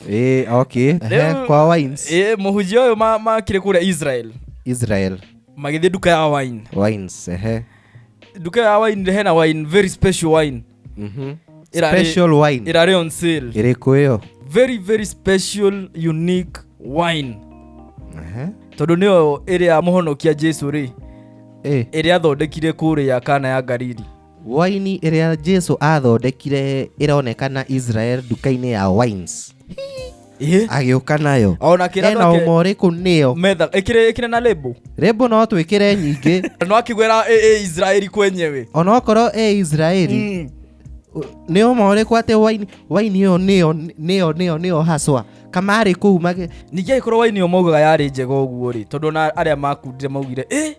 Eh, okay. Ehe, Rĩu- kwa wines. ĩ mũhunjia ũyũ ma- makire kũrĩa israel Israel magĩthiĩ nduka ya wine wines. Ehe. nduka ya wine rĩ hena wine very special wine Mhm. Ĩrarĩ- Special wine. ĩrarĩ on sale Ĩrĩkũ ĩyo? very very special unique wine Ehe. tondũ nĩyo ĩrĩa mũhonokia jesu rĩ Eh. ĩrĩa athondekire kũrĩa kana ya galili Waini ĩrĩa Jesu athondekire ĩronekana Israel nduka-inĩ ya wines. Ĩhĩ. Agĩũka nayo. Ona kĩrĩa Ena nake- ũma ũrĩkũ nĩyo. Metha, ĩkĩrĩ ĩkĩrĩ na label. Rĩmbo no twĩkĩre nyingĩ. No akĩgwĩra ĩ ĩ Israeli kwenyewe. Ona okorwo ĩ Israeli. Mm. Nĩ ũma ũrĩkũ atĩ waini waini ĩyo nĩyo nĩyo nĩyo nĩyo haswa. Kamarĩ kũu mage. Ningĩ agĩkorwo waini ĩyo maugaga yarĩ njega ũguo rĩ, tondũ ona arĩa makundire maugire, ĩ,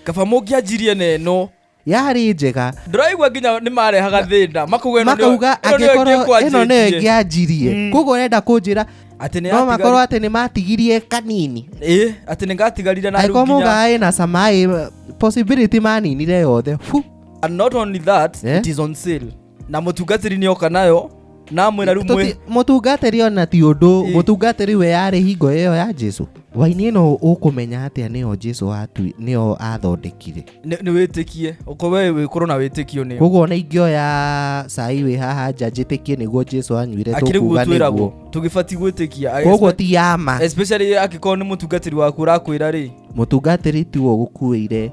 kaba mũngĩanjirie na ĩno. yarĩ njega ndĩraigua nginya nĩ marehaga thĩna makauga ĩno nĩyo- makauga ĩno nĩyo angĩkorwo ĩngĩkwanjĩtie. ĩno nĩyo ĩngĩanjirie Mm. koguo ũrenda kũnjĩra atĩ no makorwo nĩyatigarire- atĩ nĩ matigirie kanini Ĩ, atĩ nĩ ngatigarire na rĩu angĩkorwo nginya- mũgaĩ na camaĩ possibility maninire yothe Fu. and not only that Eh? it is on sale na mutungatiri ni oka nayo na amwira riu mwi mutungatiri ona ti undu Ĩ. mutungatiri we yari hingo iyo ya Jesu waini ino ukumenya atia niyo Jesu atu niyo athondekire ni ni witikie uko we wikorwo na witikio ni koguo ona ingioya cai wi haha nja njitikie niguo Jesu anyuire akiri tukuga guo twiragwo niguo tugibati gwitikia koguo ti yama especially agikorwo ni mutungatiri waku urakwira ri mutungatiri tiwo gukuire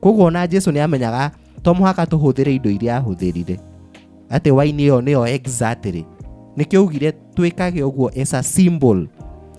koguo ona jesu nĩ amenyaga to mũhaka tũhũthĩre indo iria ahũthĩrire atĩ waini ĩyo nĩyo exactly nĩkĩo augire twĩkage ũguo as a symbol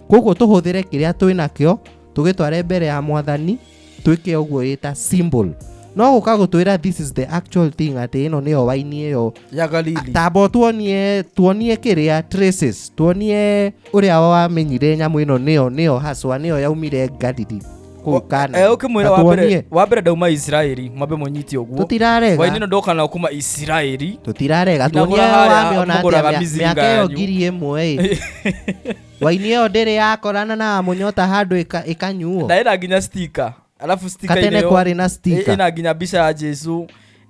koguo tũhũthĩre kĩrĩa twĩ nakĩo tũgĩtware mbere ya mwathani twĩke ũguo ĩ ta symbol no gũka gũtwĩra this is the actual thing atĩ ĩno nĩyo waini ĩyo ya galili tambo tuonie tuonie kĩrĩa traces tuonie ũrĩa wamenyire nyamũ ĩno nĩyo nĩyo haswa nĩyo yaumire galili kuu kana Eh, ukimwira wa mbere wa mbere ndauma isiraeli mwambe mũnyite ũguo tutirarega hwainĩ ĩno ndoka na kuma isiraeli tutirarega Nginagũra tuonie harĩa wamĩona mũgũraga atĩa mĩa- mĩcinga mĩaka ĩyo yanyu. ngiri ĩmwe ĩ waini ĩyo ndĩrĩ yakorana na mũnyota handũ ĩka- ĩkanyuo na ĩna nginya stika alafu stika katene kwarĩ na stika ĩna nginya mbica ya jesu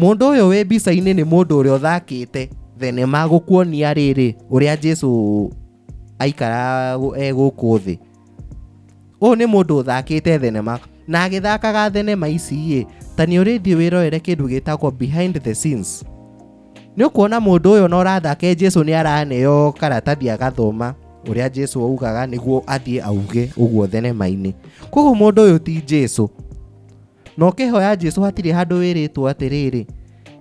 Mũndũ ũyũ wĩ mbica-inĩ nĩ mũndũ ũrĩa ũthakĩte thenema gũkuonia rĩrĩ ũrĩa Jesu aikara e gũkũ thĩ. Ũyũ nĩ mũndũ ũthakĩte thenema na agĩthakaga thenema ici ĩ, ta nĩ ũrĩthiĩ wĩrorere kĩndũ gĩtagwo behind the scenes. Nĩ ũkuona mũndũ ũyũ na ũrathake Jesu nĩ araneo karatathi agathoma ũrĩa Jesu augaga nĩguo athiĩ auge ũguo thenema-inĩ. Koguo mũndũ ũyũ ti Jesu. na ũkĩhoya jesu hatirĩ handũ wĩrĩtwo atĩrĩrĩ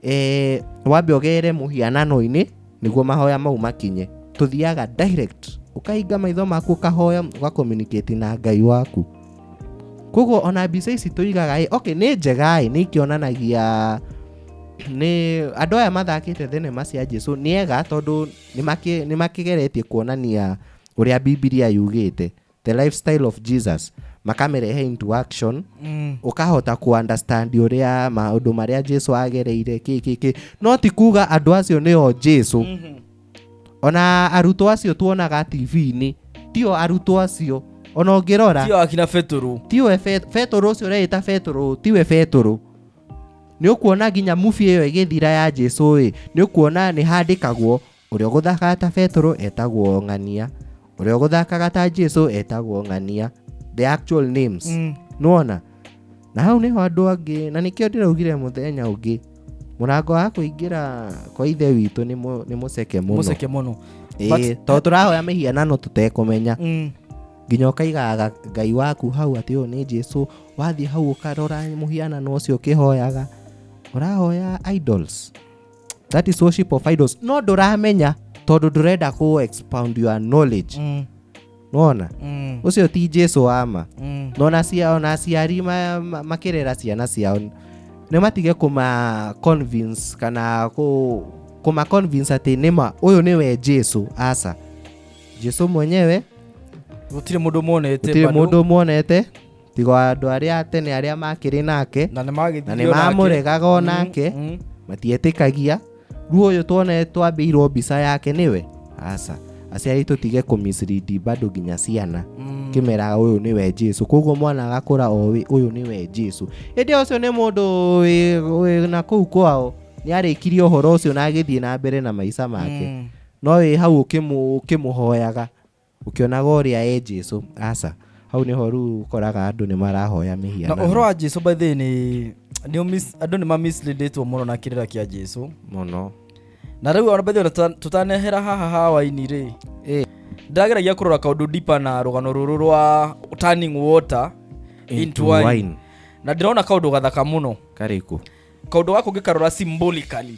eh, wambe ũgere mũhianano-inĩ nĩguo mahoya mau makinye tũthiaga direct ũkahinga maitho maku ũkahoya ũgacommunicate na ngai waku koguo ona mbica ici tũigaga ĩ okay nĩ njega ĩ nĩ ikĩonanagia nĩ andũ aya mathakĩte thenema cia jesu nĩ ega tondũ nĩ makĩ- nĩ makĩgeretie kuonania ũrĩa bibilia yugĩte the lifestyle of jesus makamerehe into action Mm. ukahota ku understand uria maundu maria jesu agereire ki ki ki no ti kuga andu acio nio jesu Mhm. ona arutwo acio tuonaga tv-inĩ tio arutwo acio ona ũngĩrora Tio akina Petero. tiwe Fe- betũrũ ũcio ũreĩta betũrũ tiwe betũrũ nĩ ũkuona nginya mubi ĩyo ĩgĩthira ya jesu ĩ nĩ ũkuona nĩ handĩkagwo Ũrĩa ũgũthakaga ta Betũrũ etagwo Ng'ania. Ũrĩa ũgũthakaga ta Jesu etagwo Ng'ania. The actual names. Mm. Nĩwona? Na hau nĩho andũ angĩ, na nĩkĩo ndĩraugire mũthenya ũngĩ, mũrango wa kũingĩra kwa ithe witũ nĩ mũ- nĩ mũceke mũno. Mũceke mũno. Ĩĩ, but- tondũ tũrahoya mĩhianano tũtekũmenya. Mm. nginya ũkaigaga ngai waku hau atĩ ũyũ nĩ jesu wathiĩ hau ũkarora mũhianano ũcio ũkĩhoyaga ũrahoya idols that is worship of idols no ndũramenya tondũ ndũrenda kũ expound your knowledge Mm, nona mm, ũcio ti jesu wama mm. nona cia ona aciari ma- ma- makĩrera ciana ciao nĩ matige kũma convince kana kũ- kũma convince atĩ nĩma ũyũ nĩwe jesu aca jesu mwenyewe gũtirĩ mũndũ monete gũtirĩ bado. mũndũ mwonete tiga o andå arä a tene arä a makä rä nake na nä na nä mamũregaga o nake matietĩkagia rĩu ũyũ tuone twambĩirwo mbica yake nĩwe aca aciari tũtige kũmisridi bado nginya ciana Mm. kĩmera ũyũ nĩwe jesu koguo mwana agakũra oĩ ũyũ nĩwe jesu hĩndĩ ĩyo ũcio nĩ mũndũ wĩ- wĩ na kũu kwao nĩ arĩkirie ũhoro ũcio na agĩthiĩ na mbere na maica make Mm. no wĩ hau ũkĩmũ- ũkĩmũhoyaga Ũkĩonaga ũrĩa e Jesu. Aca. Hau nĩho rĩu ũkoraga andũ nĩ marahoya mĩhianano. Na ũhoro wa Jesu by the nĩ andũ nĩ mamisleadĩtwo mũno na kĩrĩra kĩa Jesu. Mũno. Na rĩu ona by the tũtanehera haha hawaini rĩ. Eh. Ndageragia kũrora kaũndũ deeper na rũgano rũrũ rwa turning water into wine. Na ndĩrona kaũndũ gathaka mũno. Karĩkũ? Kaũndũ gakũ ngĩkarora symbolically.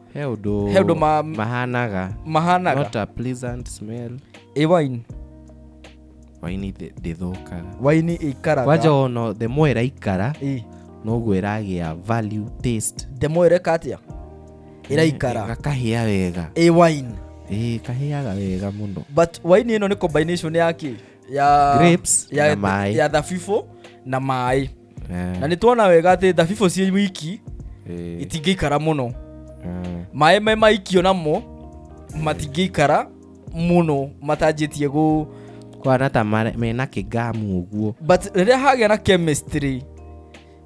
he ũndũ he ũndũ ma- mahanaga mahanaga not a pleasant smell ĩ waini waini ndĩ- ndĩthũkaga waini ĩikaraga kwanja ono the more ĩraikara Ĩ, noguo ĩragĩa value taste ndemwa ĩreka atĩa ĩraikara gakahĩa wega ĩ waini ĩĩ kahĩaga wega mũno but waini ĩno nĩ combination ya kĩ ya Grapes ya, na maĩ. ya thabibũ na maĩ Eh, na nĩ tuona wega atĩ thabibũ ciĩ wiki eh, itingĩikara mũno eh. maĩ me maikio namo matingĩikara mũno matanjĩtie gũ kwana ta mare- mena kĩgamu ũguo but rĩrĩa hagĩa na chemistry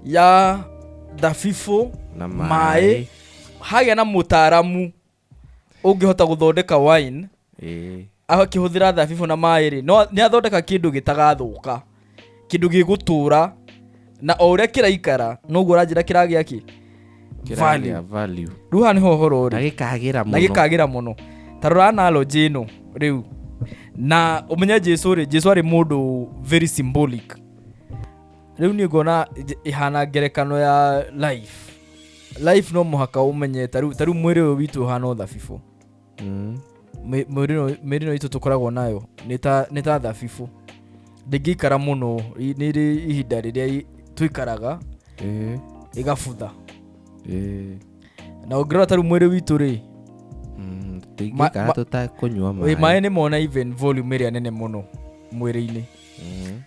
ya thabibũ na maĩ hagĩa na mũtaaramu ũngĩhota gũthondeka wine Ĩĩ. akĩhũthĩra thabibũ na maĩ rĩ no nĩ athondeka kĩndũ gĩtagathũka kĩndũ gĩgũtũra na o ũrĩa kĩraikara noguo ũranjĩra kĩragĩa kĩ Kĩragĩa Value. value. rĩu haha nĩho ũhoro na ũrĩ gĩkagĩra na mũno gĩkagĩra mũno ta rora analogy ĩno rĩu na ũmenye jesu rĩ jesu arĩ mũndũ very symbolic rĩu niĩ ngona j- ĩhana ngerekano ya life life no mũhaka ũmenye ta rĩu ta rĩu mwĩrĩ ũyũ witũ ũhana ũthabibũ Mm. Mĩ- mwĩrĩ ĩno- mĩrĩ ĩno itũ tũkoragwo nayo nĩ ta- nĩ ta thabibũ ndĩngĩikara mũno i- nĩ rĩ ihinda rĩrĩa i- tũikaraga Eh, ĩgabutha eh. na ũngĩrora ta rĩu mwĩrĩ witũ rĩ Mm, tũingĩikara ma- tũtakũnyua ĩ, maĩ maĩ nĩ mona even volume ĩrĩa nene mũno mwĩrĩ-inĩ Mhm.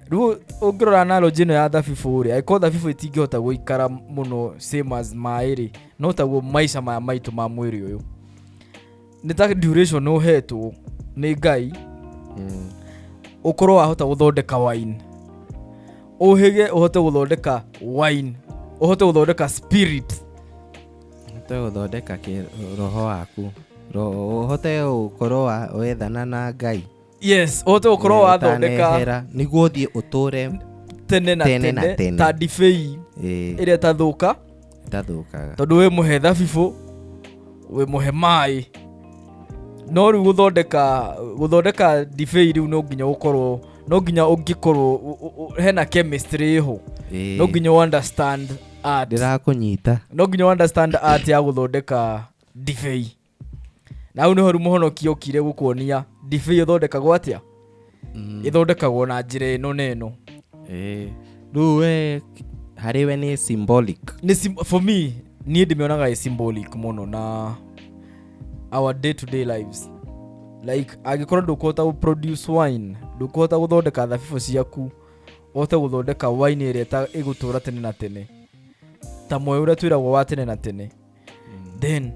rĩu ũngĩrora analogy ĩno ya thabibũ rĩ angĩkorwo thabibũ ĩtingĩhota gũikara mũno same as maĩ rĩ no taguo maica maya maitũ ma mwĩrĩ ũyũ nĩ ta duration ũhetwo nĩ ngai Mm. ũkorwo wahota gũthondeka wine ũhĩge ũhote gũthondeka wine ũhote gũthondeka spirit ũhote gũthondeka kĩ- roho waku Ro- ũhote gũkorwo wa- wethana na ngai yes ũhote gũkorwo wathondeka Ũtanehera, nĩguo thiĩ ũtũre tene na Tene na tene tene. ta ndibei eh, ĩrĩa ĩtathũka ndathũkaga tondũ wĩ mũhe thabibũ wĩ mũhe maĩ no rĩu gũthondeka gũthondeka ndibei rĩu no nginya gũkorwo no nginya ũngĩkorwo ũ- ũ- ũ- hena chemistry ĩho Eh, no nginya ũ understand art ndĩrakũnyita no nginya ũ understand art ya gũthondeka ndibei na hau nĩho rĩu mũhonoki okire gũkuonia ndibei ĩthondekagwo atĩa Mm. ĩthondekagwo na njĩra ĩno na ĩno Eh, rĩu we harĩ we nĩ symbolic nĩ sim- for me niĩ ndĩmĩonaga ĩ symbolic mũno na our day to day lives like angĩkorwo ndũkũhota gũ produce wine ndũkũhota gũthondeka thabibũ ciaku ũhote gũthondeka wine ĩrĩa ĩta- ĩgũtũra tene na tene ta moyo ũrĩa twĩragwo wa tene na tene then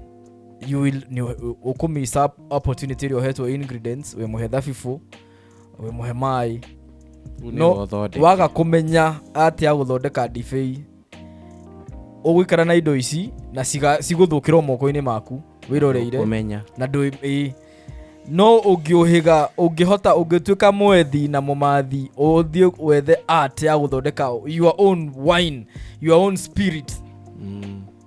you will ni- ukumisa opportunity ĩrĩa ũhetwo ingredients wĩ mũhe thabibũ wĩ mũhe maĩ no waga kũmenya atĩa gũthondeka ndibei ũgũikara na indo ici na ciga- cigũthũkĩrwo moko-inĩ maku wĩroreire kũmenya na ndũ ĩ no ũngĩũhĩga ũngĩhota ũngĩtuĩka mwethi na mũmathi ũthiĩ wethe art ya gũthondeka your own wine your own spirit Mm.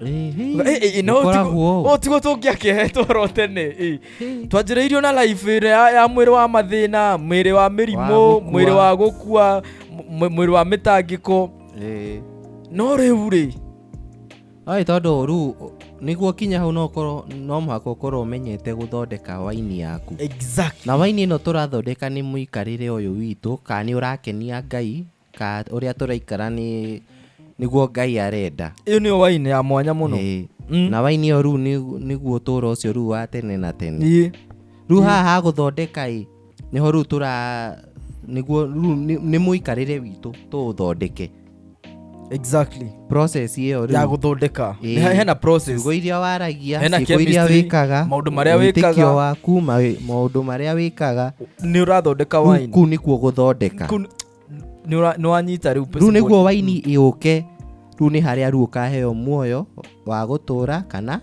Ĩhĩ, Eh, eh, eh, no gũkoragwo. tigo- o tigo tũngĩakehetwo oro tene eh. Ĩhĩ. twanjĩrĩirio na life ĩrĩa ya, ya mwĩrĩ wa mathĩna mwĩrĩ wa mĩrimũ gũkua. mwĩrĩ wa gũkua mw- mwĩrĩ wa mĩtangĩko Ĩhĩ. no rĩu rĩ Ai, tondũ rĩu nĩguo kinya hau no ũkorwo no mũhaka ũkorwo ũmenyete gũthondeka waini yaku exactly na waini ĩno tũrathondeka nĩ mũikarĩre ũyũ witũ kana nĩ ũrakenia ngai ka ũrĩa tũraikara nĩ nĩguo ngai arenda ĩyo nĩyo waini ya mwanya mũno Ĩĩ. Mm. na waini ĩyo rĩu nĩ- nĩguo ũtũũro ũcio rĩu wa tene na tene Ĩĩ. rĩu haha ha gũthondeka ĩ nĩho rĩu tũra nĩguo rĩu nĩ- nĩ mũikarĩre witũ tũũthondeke exactly process ĩyo ya rĩu gũthondeka Ĩĩ. Nĩ he- hena process ciugo iria waragia Hena ciugo iria chemistry, wĩkaga maũndũ marĩa wĩkaga. wĩtĩkio waku ma- maũndũ marĩa wĩkaga nĩ ũrathondeka kuu waini kuu nĩkuo gũthondeka Kũ- nĩ ũra- nĩ wanyita rĩu rĩu nĩguo waini ĩũke rĩu nĩ harĩa rĩu ũkaheo muoyo wa gũtũra kana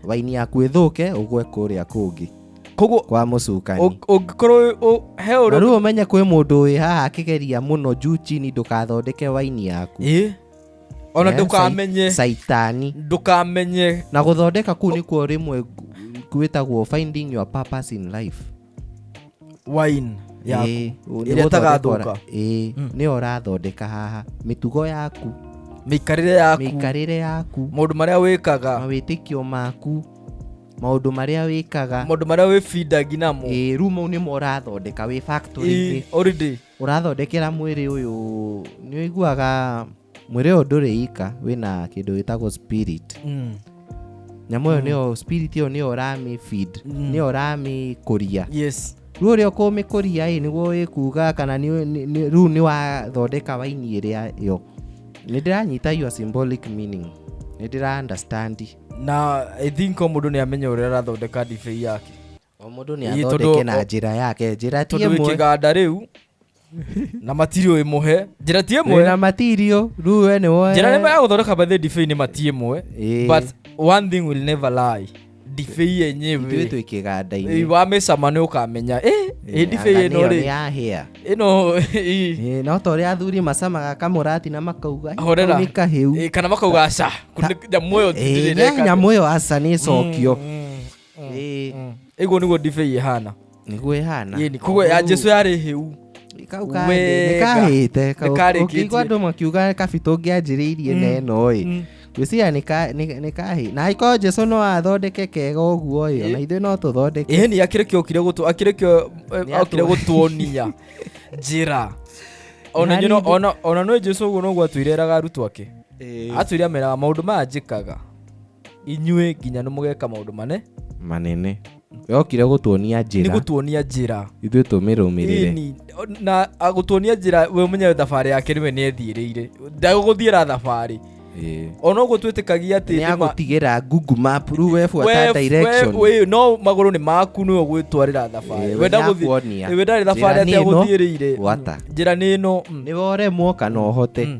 waini yaku ĩthũke ũgwe kũrĩa kũngĩ koguo kwa mũcukani ũ- ũngĩkorwo ũ- he na ũrĩa rĩu ũmenye kwĩ mũndũ wĩ haha akĩgeria mũno juu chini ndũkathondeke waini yaku Ĩ? ona Eh, ndũkamenye saitani ndũkamenye na gũthondeka kuu nĩkuo rĩmwe gwĩtagwo finding your purpose in life wine yaku Ĩĩ, ũ- ĩrĩa nĩgũthondeka ĩtagathũka. ũra- ĩĩ, Mm. nĩyo ũrathondeka haha mĩtugo yaku mĩikarĩre yaku mĩikarĩre yaku maũndũ marĩa wĩkaga mawĩtĩkio maku maũndũ marĩa wĩkaga maũndũ marĩa wĩbindangi namo ĩĩ, rĩu mau nĩmo ũrathondeka wĩ factory-inĩ Ĩ, already Ũrathondekera mwĩrĩ ũyũ, nĩ ũiguaga mwĩrĩ ũyũ ndũrĩ ika, wĩna kĩndũ gĩtagwo spirit. Mm. Nyamũ ĩyo nĩyo, spirit ĩyo nĩyo ũramĩ feed, nĩyo ũramĩ kũria. Yes. Rĩu ũrĩa ũkũmĩkũria ĩ, nĩguo ĩkuga kana nĩ- nĩ- nĩ- rĩu nĩ wathondeka waini ĩrĩa yo. Nĩ ndĩranyita your symbolic meaning. Nĩ ndĩra understand. Na I think o mũndũ nĩ amenya ũrĩa arathondeka ndibei yake. o mũndũ nĩ Ii, tondũ- athondeke na njĩra yake njĩra ti tondå wä kä ĩmwe ganda rä u na matirä ä må he njä ra ti ä wĩna mwe material rĩu we nĩ woe njä ra nä ya gå thondeka bathä ndibei nä matiä mwe Ĩĩ. but one thing will never lie ndibei ithuĩ yenyewe twĩ kĩganda-inĩ wamä cama nä å kamenya ä Ĩĩ, ndibei anga ä no nĩyo rä nĩyahĩa. ä no ĩĩ. Ĩĩ, no ta ũrĩa athuri macamaga kamũrati na makauga "Ĩ, Horera. kau nĩ kahĩu Ĩĩ, kana makauga aca Ta- nyamå ĩyo Ĩĩ, nya- nyamũ ĩyo aca nä cokio Ĩĩ, iguo niguo ndibei ihana nĩguo ĩhana Ĩni, koguo ya jesu yarĩ hĩu Kau Wega. kahĩte, nĩkahĩte Kau- Nĩkarĩkĩtie. ũkĩigua andũ makiuga kabitũ ngĩanjĩrĩirie na ĩno ĩ gwĩciria nĩka- nĩ- nĩkahĩ na angĩkorwo jesu no athondeke kega ũguo ĩ ona ithuĩ no tũthondeke iheni akĩrĩ kĩo okire gũtũ akĩrĩ kĩo eh, Nĩ okire atũ- gũtuonia njĩra ona Nani inyuĩ no- ndĩ- ona- ona nĩ jesu ũguo noguo atwĩreraga arutwo ake atwĩre ameraga maũndũ maya njĩkaga inyuĩ nginya nĩ mũgeka maũndũ mane manene yokire gũtuonia nĩ njĩra gũtuonia njĩra ithuĩ tũmĩrũmĩrĩre Ĩni, na a- gũtuonia njĩra we ũmenye thabarĩ yake nĩwe nĩ ethiĩrĩire ndagũgũthiĩra thabarĩ Ĩĩ. ona ũguo twĩtĩkagia atĩ nĩ nĩma- agũtigĩra google map rĩu we buata we- direction we- we- no magũrũ nĩ maku nĩwe ũgwĩtwarĩra thabarĩ Ĩĩ, we we ndagũthiĩ nĩakuonia. we ndarĩ thabarĩ Njĩra atĩ nĩ ĩno, agũthiĩrĩire gwata. njĩra nĩ ĩno mm. nĩ woremwo kana ũhote Mm.